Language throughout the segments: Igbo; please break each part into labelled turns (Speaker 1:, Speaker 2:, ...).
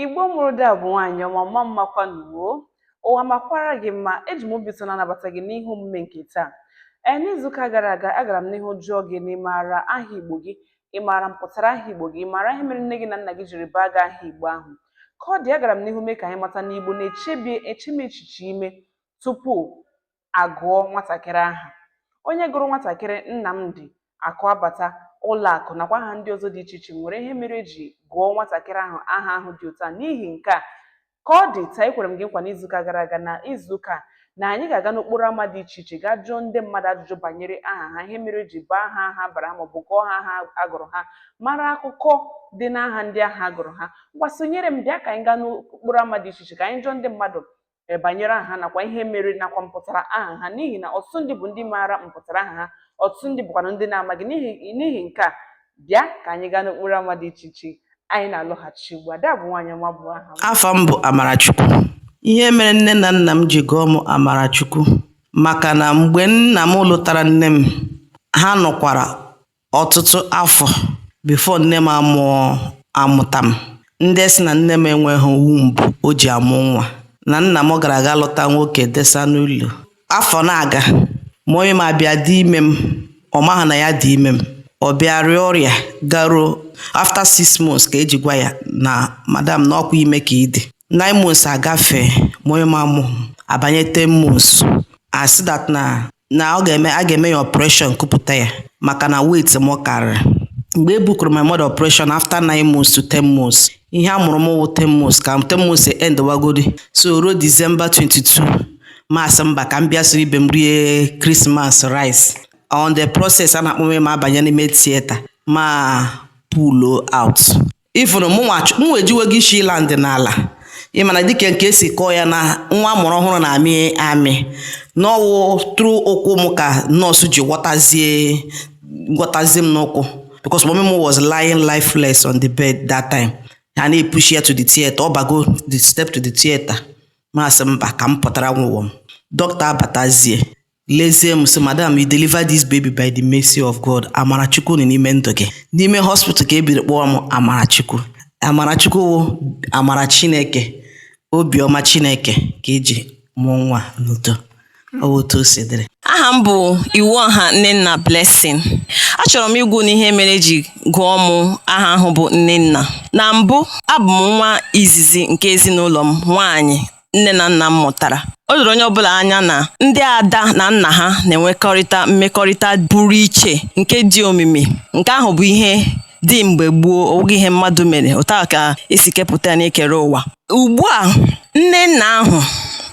Speaker 1: Igbo mụrụ dị abụ nwaanyị ọma mma mmakwa nụ wo ụwa makwara gị mma eji m obi ụtọ na-anabata gị n'ihe omume nke taa ee n'izuụka gara aga agara m n'ihu jụọ gị na ịmaara aha igbo gị ịmaara mpụtara aha igbo gị ịmaara ihe mere nne gị na nna gị jiri baa gị aha igbo ahụ ka ọ dị agara m n'ihu mee ka anyị mata na igbo na-echemi echiche ime tupu agụọ nwatakịrị aha onye gụrụ nwatakịrị Nnamdi Akụabata Ụlọakụ nakwa aha ndị ọzọ dị iche iche nwere ihe mere eji gụọ nwatakịrị ahụ aha ahụ dị otu a n'ihi nke a ka ọ dị taa ekwere m gị nkwa n'izuụka gara aga na izuụka na anyị ga-aga n'okporo ama dị iche iche gaa jụọ ndị mmadụ ajụjụ banyere aha ha ihe mere eji baa ha aha a bara ha maọbụ gụọ ha aha agụrụ ha mara akụkọ dị n'aha ndị ahụ agụrụ ha ngwa sonyere m bịa ka anyị gaa n'okporo ama dị iche iche ka anyị jụọ ndị mmadụ e, banyere aha ha nakwa ihe mere nakwa mpụtara aha ha n'ihi na ọtụtụ ndị bụ ndị maara mpụtara aha ha ọtụtụ ndị bụkwanụ ndị na-amaghị n'ihi nke a bịa ka anyị gaa n'okporo ama dị iche iche anyị na-alọghachi ugbu a Ada bụ nwaanyị ọma bụ aha m afa m bụ
Speaker 2: Amarachukwu ihe mere nne na nna m ji gụọ m Amarachukwu maka na mgbe nna m lụtara nne m ha nọkwara ọtụtụ afọ before nne m amụọ amụta m ndị sị na nne m enweghị womb o ji amụ nwa na nna m gara aga lụta nwoke desa n'ụlọ afọ na-aga mommy m abịa dị ime m ọ maghị na ya dị ime m ọ bịa rịa ọrịa garuo after six months ka eji gwa ya na madam na ọkwa ime ka ị dị nine months agafee mommy m amụhụ abanye ten months asị that na na ọ ga-eme a ga-eme ya operation kupụta ya maka na weight m karịrị mgbe e bookuru my mother operation after nine months to ten months ihe a mụrụ m wụ ten months ka ten months e end wagodi so ruo December 22 m asị mba ka m bịa soro ibe m rie Christmas rice on the process a na-akpọ mommy m abanye n'ime theater m apull out ifụrụ mụnwa ch- mụnwa ejiwego isi land n'ala ị ma na dịka nke esi kọọ ya na nwa amụrụ ọhụrụ na-amị amị na ọ wụ through ụkwụ m ka nurse ji ghọtazie ghọtazie m n'ụkwụ because mommy m was lying lifeless on the bed that time ha na-epush ya to the theater ọ bago the step to the theater m asị mba ka m pụtara onwe m dọkịta abatazie lezie m sị madam you deliver this baby by the mercy of god amarachukwu nọ n'ime ndụ gị n'ime hospital ka e biri kpọọ m amarachukwu amarachukwu wụ amara chineke obiọma chineke ka eji mụọ nwa n'udo ọ bụ otu o si dịrị aha m
Speaker 3: bụ iwuọha nnenna blessing achọrọ m ịgwa unu ihe mere eji gụọ m aha ahụ bụ nnenna na mbụ abụ m nwa izizi nke ezinụlọ m nwaanyị nne na nna m mụtara o doro onye ọbụla anya na ndị ada na nna ha na-enwekọrịta mmekọrịta pụrụ iche nke dị omimi nke ahụ bụ ihe dị mgbe gboo ọ bụghị ihe mmadụ mere otu a ka esi kepụta ya n'ekere ụwa ugbu a nne nna ahụ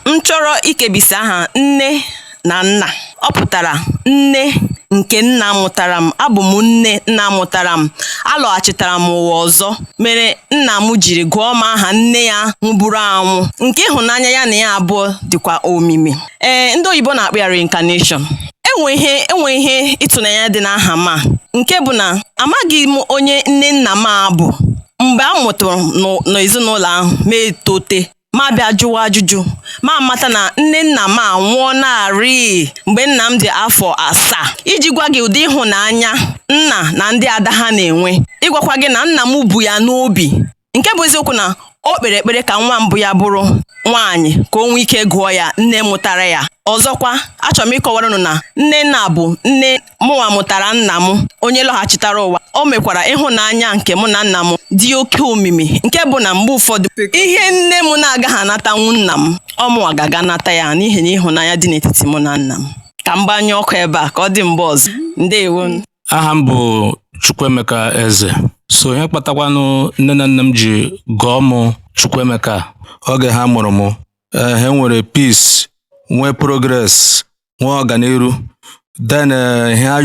Speaker 3: m chọrọ ikebisi aha nne na nna ọ pụtara nne nke nna mụtara m abụ m nne nna mụtara m alọghachitara m ụwa ọzọ mere nna m jiri gụọ m aha nne ya nwụburu anwụ nke ịhụnanya ya na ya abụọ dịkwa omimi ee ndị oyibo na-akpọ ya reincarnation enwe ihe ịtụnanya dị n'aha m a nke bụ na amaghị m onye nne nna m a bụ mgbe a mụtara m n'ezinụlọ ahụ mụ etote mụ abịa jụwa ajụjụ mụ amata na nne nna m anwụọnarị mgbe nna m dị afọ asaa iji gwa gị ụdị ịhụnanya nna na ndị ada ha na-enwe ịgwakwa gị na nna m bu ya n'obi nke bụ eziokwu na o kpere ekpere ka nwa mbụ ya bụrụ nwaanyị ka o nwee ike gụọ ya nne mụtara ya ọzọkwa achọrọ m ịkọwara unu na nne nna bụ nne mụnwa mụtara nna m onye lọghachitara ụwa o mekwara ịhụnanya nke mụ na nna m dị oke omimi nke bụ na mgbe ụfọdụ ihe nne m na-agaghị anatanwu nna m ọ mụnwa ga-aga nata ya n'ihi na ịhụnanya dị n'etiti mụ na nna m ka m gbanyụọ ọkụ ebe a ka ọ dị mgbe ọzọ ndewo aha m
Speaker 4: bụ Chukwuemeka Eze so ihe kpatakwanụ nne na nna m ji gụọ m Chukwuemeka oge ha mụrụ m eh, ha nwere peace nwee progress nwee ọganiru then eh, ihe ha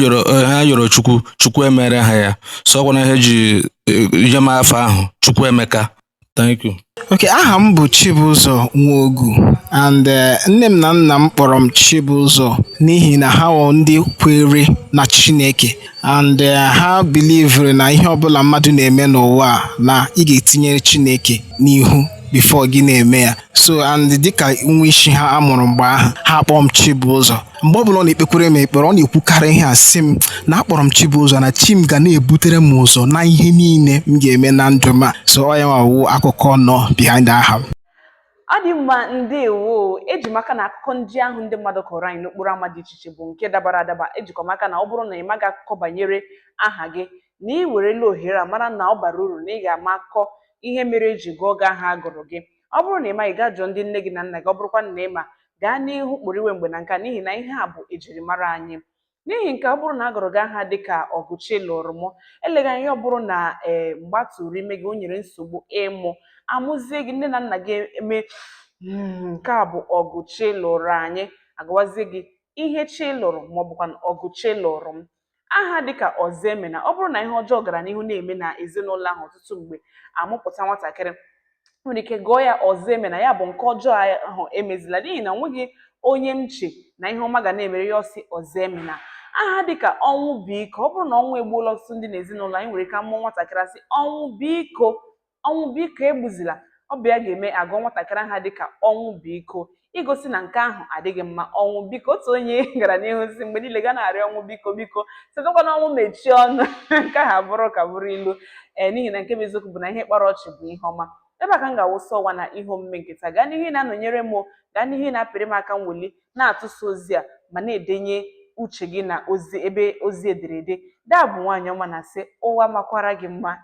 Speaker 4: yọrọ Chukwu Chukwu emere ha ya so ọ kwanụ ihe e ji eh, nye m afa ahụ Chukwuemeka thank you Okay, aha m bụ
Speaker 5: Chibụzọ Nwogu and eh, nne m na nna m kpọrọ m Chibụzọ n'ihi na ha wụ ndị kwere na Chineke and eh, ha bilivere na ihe ọbụla mmadụ na-eme n'ụwa a, na ị ga-etinyere Chineke n'ihu before gị na-eme ya so and dịka nwa isi ha a mụrụ mgbe ahụ ha akpọọ m Chibụzọ mgbe ọbụla ọ na-ekpekwere m ekpere ọ na-ekwukarị ihe a sị m na akpọrọ m Chibụzọ na chi m ga na-ebutere m ụzọ na ihe niile m ga-eme na ndụ m a so ọ ya nwa wụ akụkọ nọ behind aha m ọ dị
Speaker 1: mma ndewo eji m aka na akụkọ ndị ahụ ndị mmadụ kọọrọ anyị n'okporo ama dị iche iche bụ nke dabara adaba ejikwa m aka na ọ bụrụ na ị maghị akụkọ banyere aha gị na ị werela ohere a mara na ọ bara uru na ị ga-ama akụkọ ihe mere e ji gụọ gị aha a gụrụ gị ọ bụrụ na ị maghị gaa jụọ ndị nne gị na nna gị ọ bụrụkwa na ị ma gaa n'ihu kporiwe mgbe na nka n'ihi na ihe a bụ ejirimara anyị n'ihi na ọ bụrụ na a gụrụ gị aha dị ka Ọgụchilụrụmụ eleghị anya ọ bụrụ na ee mgbe a tụrụ ime gị o nyere nsogbu ịmụ a mụzie gị nne na nna gị eme "Mm, nke a bụ ọgụ chi lụrụ anyị agụwazie gị Ihechilụrụ maọbụkwa Ọgụchilụrụm aha dịka ọzọemena ọ bụrụ na ihe ọjọọ gara n'ihu na-eme na ezinụlọ ahụ ọtụtụ mgbe amụpụta nwatakịrị nwere ike gụọ ya ọzọemena ya bụ nke ọjọọ ahụ emezila n'ihi na o nweghị onye m che na ihe ọma ga na-emere ya ọ sị ọzọemena aha dịka ọnwụbiko ọ bụrụ na ọnwụ egbuola ọtụtụ ndị n'ezinụlọ anyị nwere ike amụọ nwatakịrị asị ọnwụbiko ọnwụ biko egbuzila ọ bụ ya ga-eme agụọ nwatakịrị aha dịka ọnwụbiko igosi na nke ahụ adịghị mma ọnwụbiko otu onye gara n'ihu sị mgbe niile ga na-arịọ ọnwụ biko biko sịtụkwanụ ọnwụ mechie ọnụ nke ahụ abụrụ ka bụrụ ilu ee n'ihi na nke bụ eziokwu bụ na ihe kpara ọchị bụ ihe ọma ebe a ka m ga-awụsa ọwa na ihe omume nke taa gaa n'ihu na-anọnyere m gaa n'ihu na-apịrị m aka mweli na-atụsa ozi a ma na-edenye uche gị na ozi ebe ozi ederede daa bụ nwaanyị ọma na-asị ụwa makwara gị mma